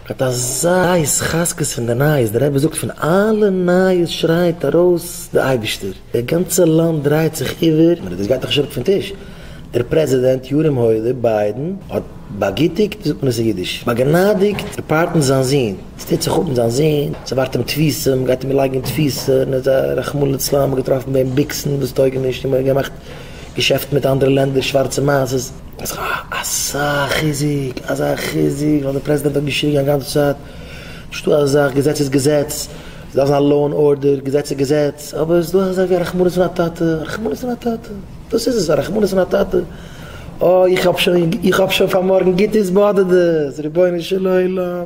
מיט אזא התחזקות פון די נייעס, די רבי זאגט פון אלע נייעס שרייט ארויס די אייבישטער, די גאנצע לאנד דרייט זיך איבער, מיר דאס גייט דאך נישט אראפ פון טיש, דער פרעזידענט ירום הודו ביידען האט באגוטיגט, ווי זאגט מען עס אין אידיש, באגנאדיגט די פארטן זיין זון, עס טוט זיך אפ מיט זיין זון, עס ערווארט אים תפיסה, מען גייט אים לייגן אין תפיסה, און ער איז א רחמנא לצלן, מען האט געטראפן ביי אים ביקסן וואס טויגן נישט, און מען האט געמאכט. געשעפטן מיט אנדערע לענדער, שווארצע מעז איז א אזא חיזוק, אזא חיזוק, ווייל דער פרעזידענט האט געשריגן א גאנצע צייט, נישט דא אזא זאך, געזעץ איז געזעץ, עס דארף זיין לאו ענד ארדער, געזעץ איז געזעץ, אבער עס איז דא אזא זאך ווי א רחמנות פון א טאטע, א רחמנות פון א טאטע, דאס איז עס, א רחמנות פון א טאטע, אוי איך האב שוין, איך האב שוין פאר מארגן גוט איז באדערט דאס, רבונו של עולם.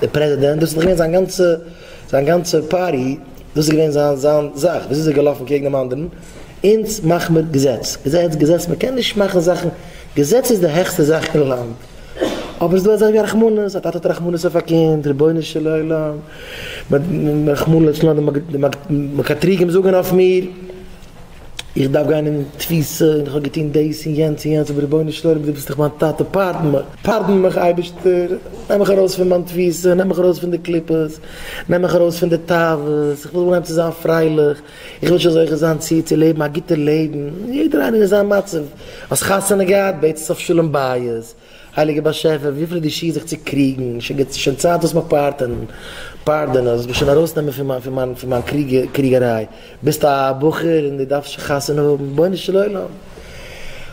דער פרעזידענט, דאס איז דאך געווען זיין גאנצע, זיין גאנצע פארטי, דאס איז געווען זיין, זיין זאך, וויאזוי איז ער געלאפן קעגן דעם אנדערן, אונז מאך מיר געזעץ, געזעץ, געזעץ, מען קען נישט מאכן זאכן, געזעץ איז די העכסטע זאך אין לאנד, אבער ס'איז דא אזאך ווי רחמנות, א טאטע האט רחמנות אויף א קינד, רבונו של עולם, רחמנא לצלן, די מקטריגים זאגן אויף מיר. איך דארף גיין אין תפיסה און איך האב געטון דאס און יענץ און יענץ אבער רבונו של עולם דו ביסט דאך מיין טאטע פארדן מיך פארדן מיך אייבערשטער נעם מיך ארויס פון מיין תפיסה נעם מיך ארויס פון די קליפות נעם מיך ארויס פון די תאוות איך וויל אנהייבן צו זיין פרייליך איך וויל שוין זוכה זיין צו צו לעבן א גוטע לעבן יעדער איינער אין זיין מצב האסט חתונה געהאט בעטס אויף שלום בית הייליגער באשעפער, וויפיל איז די שעה זיך צו קריגן, שוין גוט, ס'שוין צייט דאס מיך פארטענען, פארדענען, זאלסט מיר שוין ארויסנעמען פון מיין, פון מיין קריגעריי, ביסט א בחור און דו דארפסט שוין חתונה האבן, רבונו של עולם,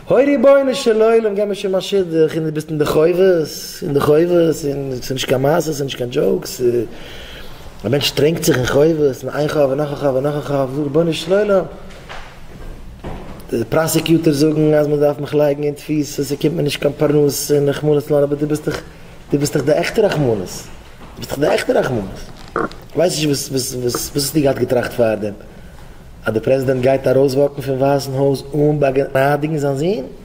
הוי רבונו של עולם, געב מיר שוין מיין שידוך, און דו ביסט אין די חובות, אין די חובות, און ס'איז נישט קיין מעשה, ס'איז נישט קיין דזשאוק, א מענטש טרענקט זיך אין חובות, און איין חוב און נאך א חוב און נאך א חוב, רבונו של עולם. די פראסעקיוטערס זאגן אז מען דארף מיך לייגן אין תפיסה, ס'קומט מיר נישט קיין פרנסה און רחמנות לאן, אבער דו ביסט דאך, דו ביסט דאך די עכטע רחמנות, דו ביסט דאך די עכטע רחמנות. כ'ווייס נישט וואס, וואס, וואס האסטו געהאט געטראכט פארדעם? אז דער פרעזידענט גייט ארויסוואקן פון ווייסן הויז אן באגנאדיגן זיין זון?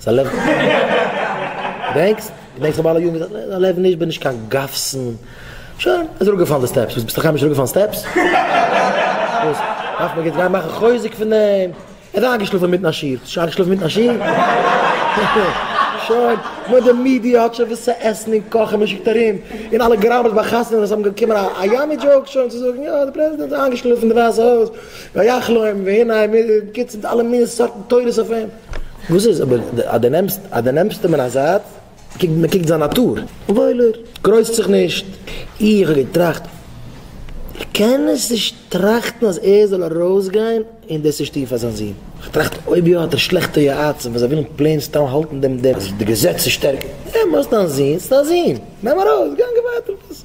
ס'איז א לעבן. געדענקסט? געדענקסט איך האב אלע יארן געזאגט, נע, ס'איז א לעבן נישט, בין נישט קיין גאפסן. שוין, איז אראפגעפאלן די סטעפס. וואס, ביסט אקארמיש אראפגעפאלן סטעפס? וואס, דארף מען יעצט גיין מאכן חוזק פון דעם? ער איז איינגעשלאפן אינמיטן א שיעור. האסט שוין איינגעשלאפן אינמיטן א שיעור? שוין, נאר די מידיע האט שוין וואס צו עסן און קאכן, מען שיקט ארום, און אלע גראמעס ביי חתונות וואס האבן געקומען א יאמי דזשאוק שוין צו זאגן, יא, דער פרעזידענט איז איינגעשלאפן אין די ווייסע הויז, ויחלום, והנה, מען גיבט אלע מיני סארטן תורות אויף אים. וואס איז אבער אז דו נעמסט אז דו נעמסט אים אין א זייט קוק מען קוקט זיין נאטור וואוילער גרויסט זיך נישט איך האב געטראכט איך קען עס נישט טראכטן אז ער זאל ארויסגיין און דאס נישט טון פאר זיין זון איך האב געטראכט אויב יא האט ער שלעכטע יועצים וואס זיי ווילן פלעין סתם האלטן דעם דעם אז די געזעץ איז שטערקער נעם ארויס דיין זון ס'איז דיין זון נעם ארויס גאנג ווייטער מיט עס.